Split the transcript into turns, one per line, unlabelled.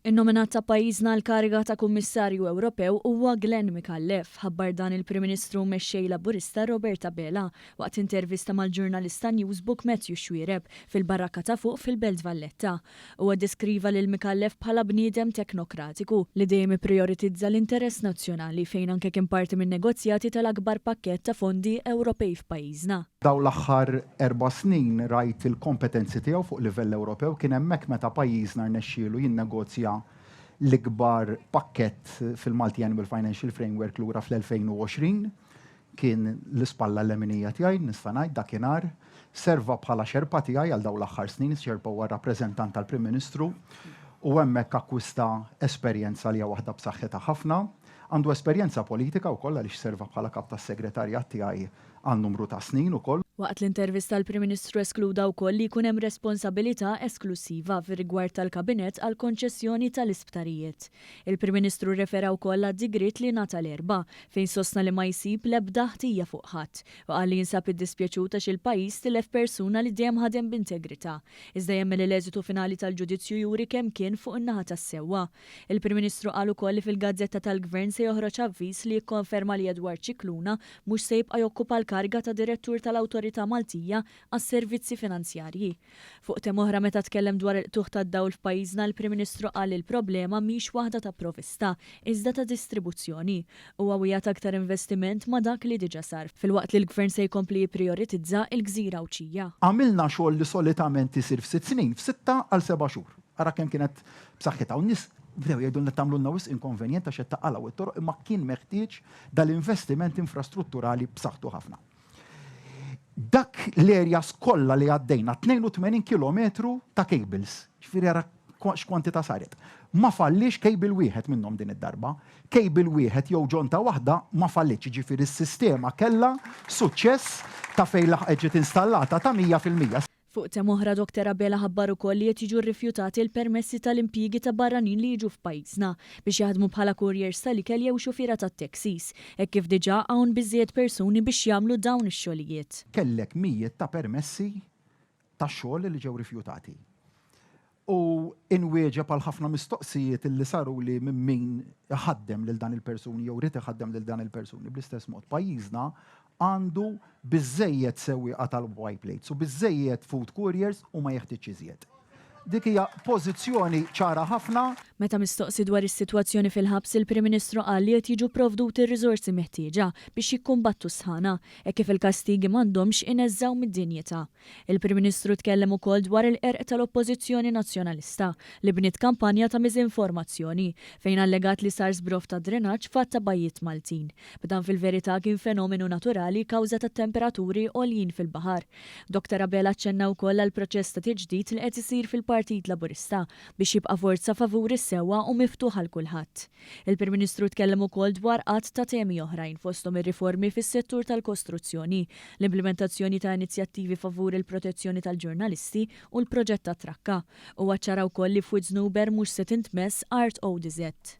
In-nominat ta' pajjiżna għall-kariga ta' Kummissarju Ewropew huwa Glenn Micallef, ħabbar dan il-Prim Ministru u Mexxej Laburista Robert Abela waqt intervista mal-ġurnalist ta' Newsbook Matthew Xuereb fil-Barakka ta' Fuq fil-Belt Valletta. Huwa ddeskriva lil Micallef bħala bniedem teknokratiku, li dejjem ipprijoritizza l-interess nazzjonali fejn anke kien parti min-negozjati tal-akbar pakkett ta' fondi Ewropej f'pajjiżna. Dawn l-aħħar
Erba' snin rajt il-kompetenzi tiegħu fuq livell Ewropew, kien hemmhekk meta pajjiżna rnexxielu jinnegozja l-ikbar pakkett fil-Multiannual Financial Framework lura fl-2020. Kien l-ispalla leminija tiegħi, nista' ngħid, dakinhar. Serva bħala Xerpa tiegħi għal dawn l-aħħar snin, is-Xerpa huwa r-rappreżentant tal-Prim Ministru, u hemmhekk akkwista esperjenza li hija waħda b'saħħitha ħafna. Għandu esperjenza politika wkoll għaliex serva bħala Kap tas-Segretarjat tiegħi għal numru ta' snin ukoll. Waqt l-intervista l-Prim
Ministru eskluda wkoll li jkun hemm responsabilità esklussiva fir-rigward tal-Kabinett għall-konċessjoni tal-isptarijiet. Il-Prim Ministru rrefera wkoll għad-digriet li ngħata l-Erbgħa, fejn sostna li ma jsib l-ebda ħtija fuq ħadd, u qal li jinsab iddispjaċut għax il-pajjiż tilef persuna li dejjem ħadem b'integrità, iżda jemmen li l-eżitu finali tal-ġudizzju juri kemm kien fuq in-naħa tas-sewwa. Il-Prim Ministru qal ukoll li fil-gazzetta tal-Gvern se joħroġ avviż li jikkonferma li Edward Scicluna mhux se jibqa' jokkupa l-kariga ta' Direttur tal-Awtorità Maltija għas-Servizzi Finanzjarji. Fuq thema oħra meta tkellem dwar il-qtugħ tad-dawl f'pajjiżna il-Prim Ministru qal li l-problema mhix waħda ta' provista iżda ta' distribuzzjoni. Huwa wiegħed aktar investiment ma' dak li diġa sar filwaqt li l-Gvern se jkompli jipprijoritizza il-Gżira Għawdxija. Għamilna xogħol li
solitament isir f'sitt snin f'sitta għal seba' xhur. Ara kemm kienet b'saħħitha u n-nies bdew jgħidulna tagħmlulna wisq inkonvenjent għax qed taqalgħu t-toroq imma kien meħtieġ dal-investiment infrastrutturali b'saħħtu ħafna. Dak l-areas kollha li għaddejna, 82 kilometru ta' cables, ġifieri ara x'kwantità saret. Ma falliex cable wieħed minnhom din id-darba. Cable wieħed jew ġonta waħda ma fallietx, jiġifieri s-sistema kellha suċċess ta' fejn laħqet ġiet installata ta' 100%. Fuq themm oħra
Doctor Abela ħabbar ukoll li qed jiġu rrifjutati l-permessi tal-impjiegi ta' barranin li jiġu f'pajjiżna biex jaħdmu bħala couriers tal-ikel jew xufiera tat-taxis hekk kif diġà hawn biżżejjed persuni biex jagħmlu dawn ix-xogħlijiet. Kellek mijiet
ta' permessi ta' xogħol li ġew rifjutati. u inwieġeb għal ħafna mistoqsijiet li saruli minn min iħaddem lil dan il-persuni jew irid iħaddem lil dan il-persuni. Bl-istess mod, pajjiżna għandu biżżejjed sewwieqa tal-Y plates u biżżejjed food couriers u ma jeħtieġx iżjed. Dik hija pożizzjoni ċara ħafna. Meta mistoqsi
dwar is-sitwazzjoni fil-ħabs il-Prim Ministru qal li qed jiġu pprovduti r-riżorsi meħtieġa biex jikkumbattu s-sħana, hekk kif il-kastigi m'għandhomx ineżżgħu mid-dinjità. Il-Prim Ministru tkellem ukoll dwar il-qerq tal-Oppożizzjoni Nazzjonalista li bniet kampanja ta' miżinformazzjoni fejn allegat li sar żbroff ta' drenaġġ f'għadd ta' bajjiet Maltin b'dan fil-verità kien fenomenu naturali kawża tat-temperaturi għoljin fil-baħar. Dr Abela aċċenna wkoll għall-proċess ta' tiġdid li qed isir fil-Partit Laburista biex jibqa' forza favur is-sewwa u miftuħ għal kulħadd. Il-Prim Ministru tkellem ukoll dwar għadd ta' temi oħrajn fosthom ir-riformi fis-settur tal-kostruzzjoni, l-implimentazzjoni ta' inizjattivi favur il-protezzjoni tal-ġurnalisti u l-proġett tat-trakka. Huwa ċċara wkoll li f'Wied Żnuber mhux se tintmess art ODZ.